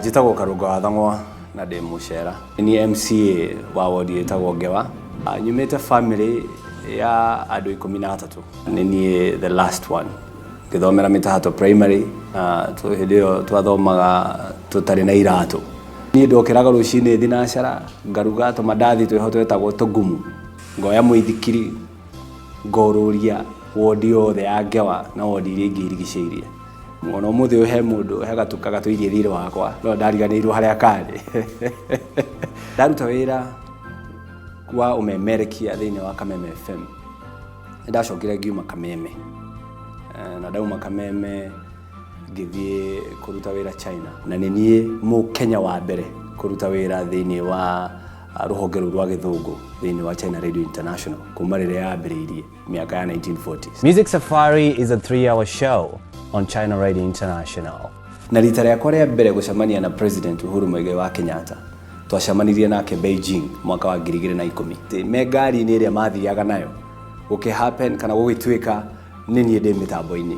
njĩtagwo karũnga wa thang'wa na ndĩ mũcera nĩ mca wa wodi ĩtagwo ngewa Ah, nyumĩte family ya andũ ikũmi na atatũ nĩ niĩ the last one ngĩthomera mĩtahato primary na tũ- hĩndĩ ĩyo twathomaga tũtarĩ na iratũ niĩ ndokĩraga rũcinĩ thinacara ngaruga tũmandathi twĩho twetagwo tũgumu ngoya mũithikiri ngorũria wondi yothe ya Ngewa na wondi iria ingĩ irigicĩirie. Ona ũmũthĩ ũyũ he mũndũ, he gatũ gatũirie thiirĩ wakwa, no ndariganĩirwo harĩa karĩ. Ndaruta wĩra wa ũmemerekia thĩiniĩ wa Kameme FM, nĩ ndacokire ngiuma Kameme. Na ndauma Kameme ngĩthiĩ kũruta wĩra China. Na nĩ niĩ Mũkenya wa mbere kũruta wĩra thĩiniĩ wa... Ah, rũhonge rũu rwa gĩthũngũ thĩinĩ wa China Radio International kuma rĩrĩa yambĩrĩirie mĩaka ya 1940s. Music Safari is a three-hour show on China Radio International. Na rita rĩakwa rĩa mbere gũcemania na President Uhuru Muigai wa Kenyatta twacemanirie nake Beijing mwaka wa ngiri igĩrĩ na ikũmi. Ĩĩ, Me ngari-inĩ ĩrĩa mathiaga nayo gũkĩhappen kana gũgĩtuĩka nĩ niĩ ndĩ mĩtambo-inĩ.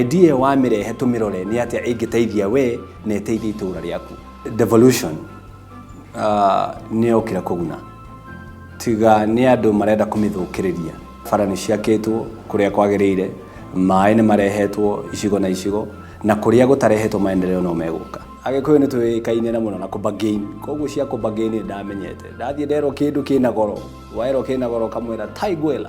Idea ĩyo wamĩrehe tũmĩrore nĩ atĩa ĩngĩteithia we na ĩteithie itũũra rĩaku. Devolution ah, nĩ yokire kũguna, tiga nĩ andũ marenda kũmĩthũkĩrĩria. Bara nĩ ciakĩtwo kũrĩa kwagĩrĩire, maĩ nĩ marehetwo icigo na icigo, na kũrĩa gũtarehetwo maendeleo no megũka. Agĩkũyũ nĩ tũĩkaine na mũno na kũbargain, koguo cia kũbargain nĩ ndamenyete. Ndathiĩ nderwo kĩndũ kĩna goro, werwo kĩna goro ũkamwĩra tai gwĩra.